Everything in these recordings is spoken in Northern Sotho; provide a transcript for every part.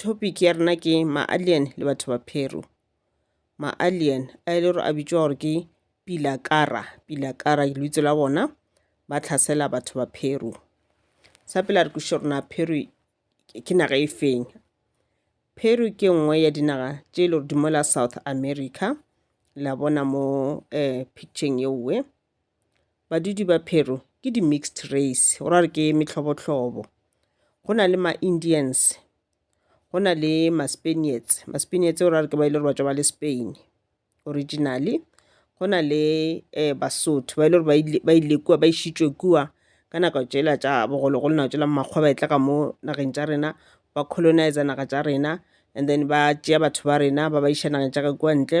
Topic ya rena ke ma-alien le batho ba Peru. Ma-alien a e le gore a bitšwa gore ke Pilakara. Pilakara ke lebitso la bona ba tlhasela batho ba Peru. Sa pele a re kwešiše gore na Peru ke naga e feng. Peru ke nngwe ya dinaga tše e le gore di mola South America la bona mo um picture-eng ye nngwe. Badudi ba Peru ke di-mixed race, go ra gore ke mehlobohlobo. Go na le ma-Indians, go na le ma-Spaniards, ma-Spaniards go ra gore ke ba e le gore ba tšwa ba le Spain originally. Go na le Basotho ba e le gore ba ile, ba ile kua, ba išitšwe kua ka nako tšela tša bogologolo, nako tšela makgwa ba e tla ka mo nageng tša rena, ba colonise-a naga tša rena and then ba tšea batho ba rena ba ba iša nageng tša ka kua ntle,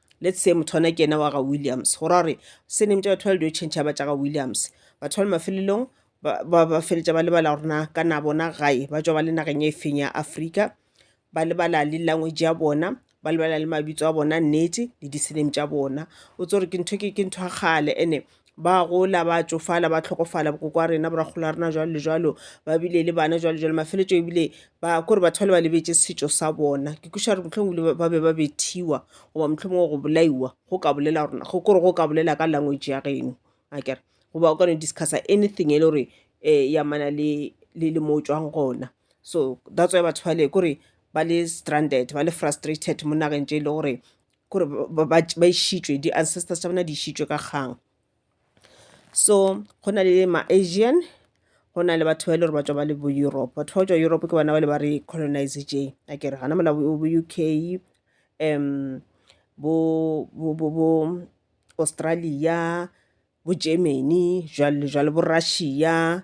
Let's say motho ona ke ena wa ga Williams. Go ra gore surname tša batho ba le dio tšhentšha ba tša ga Williams. Batho ba le mafelelong ba ba ba feletša ba lebala gore na ka na bona gae ba tšwa ba le nageng e feng ya Afrika. Ba lebala le language ya bona, ba lebala le mabitso a bona nnete le di-surname tša bona. O tsebe gore ke ntho ke ke ntho ya kgale ene ba gola ba tšofala ba tlhokofala bokoko wa rena borakgolo wa rena jwalo le jwalo ba bile le bana jwalo jwalo mafeletšo ebile ba kore batho ba le ba lebetše setšo sa bona ke kweša gore mohlomong ebile ba be ba bethiwa goba mohlomong go bolaiwa go ka bolela gore go kore go ka bolela ka language ya geno akere goba o kano discussa anything e le gore um ya mana le le mo o tswang gona so that's why batho bale kore ba le stranded ba le frustrated mo nageng tše e le gore gore ba išitšwe di-ancestors tša bona di išitšwe ka kgang so go na le ma-asian go na le batho ba e le gore ba tswa ba le bo europe batho ba go tswa europe ke bona ba le ba re colonise je a kere gana mola bo u k um bo australia bo germany jwalo le jwalo bo russia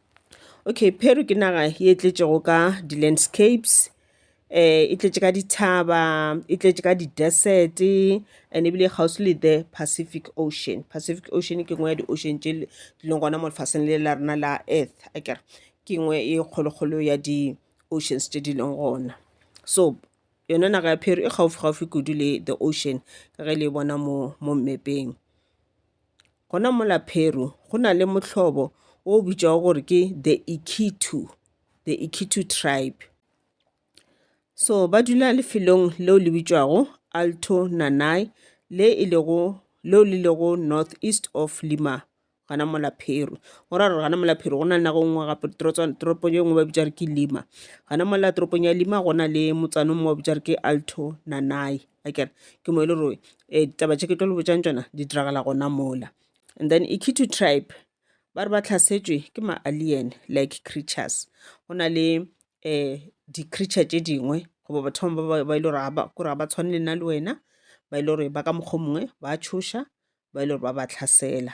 okay peru ke naga ye tletšego ka di-landscapes um e tletše ka dithaba e tletše ka di-desert and ebile e kgauswi le the pacific ocean pacific ocean ke nngwe ya di-ocean tše di leng gona mo lefaseng le la rena la earth akere ke nngwe e kgolokgolo ya di-oceans tše di leng gona so yona naga ya peru e gaufi gaufi kudu le the ocean ka ge le e bona mo mo mmepeng Gona mola Peru go na le mohlobo o o bitšwago gore ke the Ikitu, the Ikitu tribe. So ba dula lefelong leo le bitšwago Alto Nanay le e lego leo le lego north east of Lima gana mola Peru. Go ra gore gana mola Peru go na le nago nngwe gape toropong e nngwe ba bitša re ke Lima. Gana mola toropong ya Lima go na le motsana o mongwe ba bitša re ke Alto Nanay. akere ke mo e le gore um ditaba tše ke tlo le botšang tšona di diragala gona mola and then ikithu tribe ba re ba tlhasetšwe ke ma-alien like creatures go na le um di-creature tše dingwe goba batho bangwe ba ba e le gore kore ga ba tshwane le nna le wena ba e le gore ba ka mokgwa mongwe ba tšhoša ba e le gore ba ba tlhasela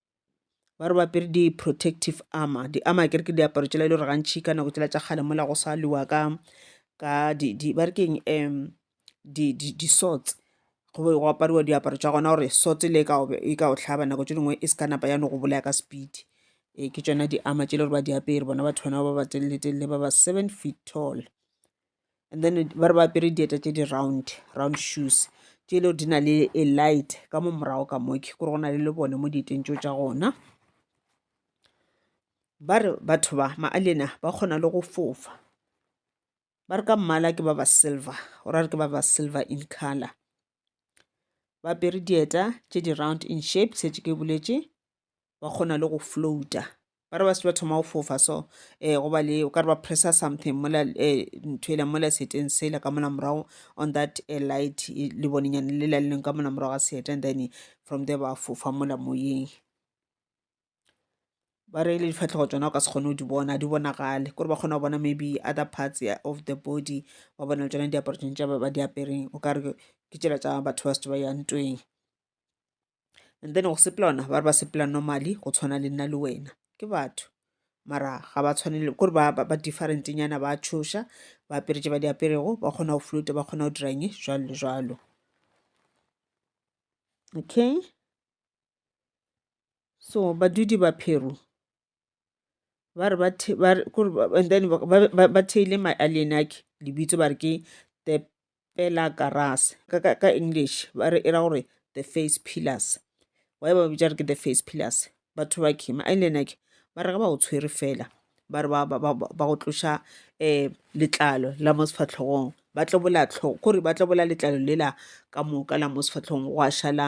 ba re ba apere di-protective armor di-armor kere ke diaparo tšela e le gore gantšhi ka nako tšela tša kgale mola go sa lwa ka ka di, di ba re keng um di, di, di sorts go be go apariwa diaparo tša gona gore sorts le e ka o tlhaba nako tše dingwe e se ka napa ya no go bolaya ka speed e ke tšona di-armor tšele gore ba di apere bona batho bana ba ba telele telele ba ba seven feet tall and then ba re ba apere dieta tše di-round round shoes tše e le gore di na le a light ka mo morago ka moke gore go na le lebone mo dieteng tšeo tša gona ba re batho ba maalena ba kgona le go fofa ba re ka mmala ke ba ba silver o ra re ke ba ba silver in color ba apere dieta tše di-round in shape setse ke boletše ba kgona le go floata ba re ba se ba thoma go fofa so um eh, go ba le o ka re ba pressa something mola eh, ntho ela mola seteng sela ka mola morago on that eh, light e, le bonenyane le laleleng ka mola morago ga seeta and then from there ba fofa mola moyeng ba re le difatlhego tsona o ka se kgone go di bona di bonagale kore ba kgona go bona maybe other parts of the body ba bona le tsona diaparo tsone tša ba di apereng o ka re ke tsela tsa batho ba se ba ya ntweng and then go sepela ona ba re ba sepela normally go tshwana le nna le wena ke batho mara ga ba tshwanele kore ba, ba, ba different nyana ba tshoša ba apere tše ba di aperego ba kgona go flote ba kgona go diranye jalo le jalo okay so badudi ba pheru ba re and then ba theile maallianaki lebitso ba re ke the pela karas ka english ba re e ra gore the face pillars wy ba bitsa re ke the face pillars batho ba ke maallianaki ba re ge ba go tshwere fela ba re ba go tloša um letlalo la mo sefahlogong ba tlobola tlhogo kore ba tlobola letlalo lela ka moka la mo sefahlogong gwa šala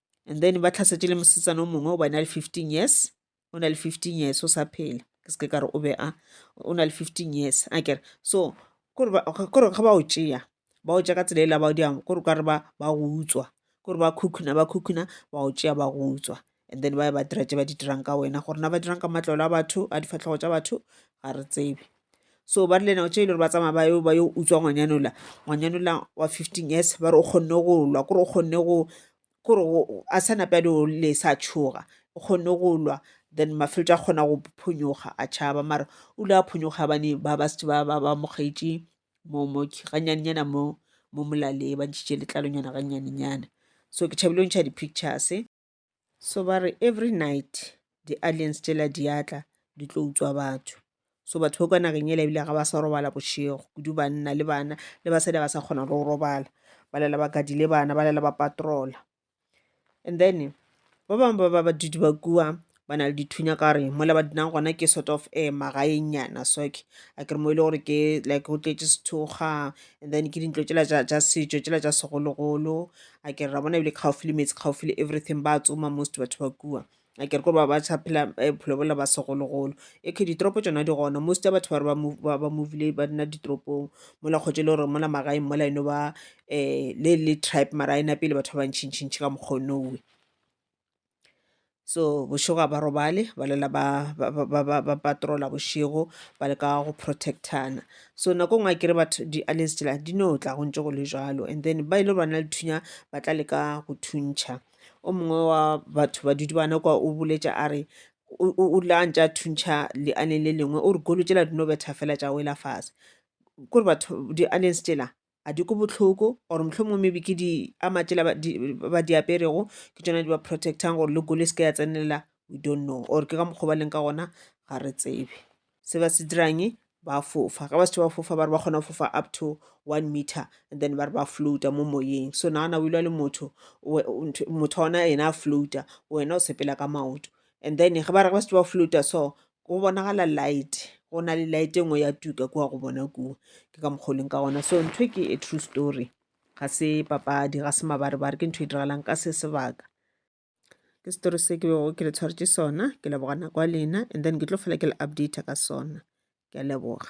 and then ba tlhasetše le mosetsana o mongwe o ba na le fifteen years o na le fifteen years o sa phela ke seke ka re o be a o na le fifteen years a kere so kore ga ba o tšea ba o tšea ka tsela e la ba di kore ka re ba ba go utswa kore ba khukhuna ba khukhuna ba o tšea ba go utswa and then ba ya ba dira tše ba di dirang ka wena gore na ba dirang ka matlolo a batho a difatlhego tša batho ga re tsebe so ba rile nako tše e le gore ba tsamaya ba yo ba yo utswa ngwanyanola ngwanyanola wa fifteen years ba re o kgonne go lwa kore o kgonne go kore a sa nape a di o le sa tshoga o kgonne go lwa then mafeletso a kgona go phonyoga a tšhaba mara o ile a phonyoga bane ba ba setse ba ba ba mo gaetše mo mo ganyanenyana mo mo molaleng ba ntšhitše letlalonyana ganyanenyana so ke tšhabile go ntšha di-pictures. So ba re every night di-aliens tšela di a tla di tlo utswa batho. So batho ba kwa nageng ele ebile ga ba sa robala bošego, kudu banna le bana le basadi ga ba sa kgona le go robala. Ba lala ba gadile bana, ba lala ba patroller. And then ba bangwe ba ba badudi ba kua bana le dithunya ka gore mola ba dulang gona ke sort of magaenyana so ke akere mo e le gore ke like go tletse sethokgwa and then ke dintlo tšela tša setšo tšela tša segologolo. a ke re ra bona ebile kgaofi le metsi kgaofi le everything ba tsoma most batho ba kua a ke re kore ba ba sa phela eh, bophelo bola ba segologolo e ke ditoropo tsona di gona most ya batho ba re ba move- ba- ba movile ba nna ditoropong mola kgotse e le gore mola magaeng mola eno ba um le le tribe mara a ena pele batho ba bantšhintšhintšhi ka mokgonowe so bošego ga ba robale ba lela ba ba- ba- ba- ba- ba patrola bošego ba le ka go protectana so nako ngwe a kere batho di-aliens tšela di no tla go ntse go le jalo and then ba e le gore ba na le thunya ba tla leka go thuntšha o mongwe wa batho ba dudi bana kwa o boletša a re o o- o la ntse a thuntšha lealeng le lengwe o re golo tšela di no betha fela tša wela fase kore batho di-aliens tšela a di ko bohloko or mohlomongwe maybe ke di a matšela ba di aperego ke tsona di ba protectang gore le kolo e se ke ya tsenelela we don't know or ke ka mokgwa ba leng ka gona ga re tsebe se ba se dirang ba fofa ga ba se ba fofa ba re ba kgona go fofa up to one meter and then ba re ba floata mo moyeng so nagana o ilwa le motho motho ona ena a floata wena o sepela ka maoto and then ge ba re ba se ba floata so go bonagala light go na le light e nngwe ya tuka kua go bona kua ke ka mokgoleng ka gona so ntho ke a true story ga se papadi ga se mabarebare ke ntho e diragalang ka se sebaka ke story se ke bego ke le tshwaretše sona ke leboga nako ya lena and then ke tlo fela ke le updata ka sona ke a leboga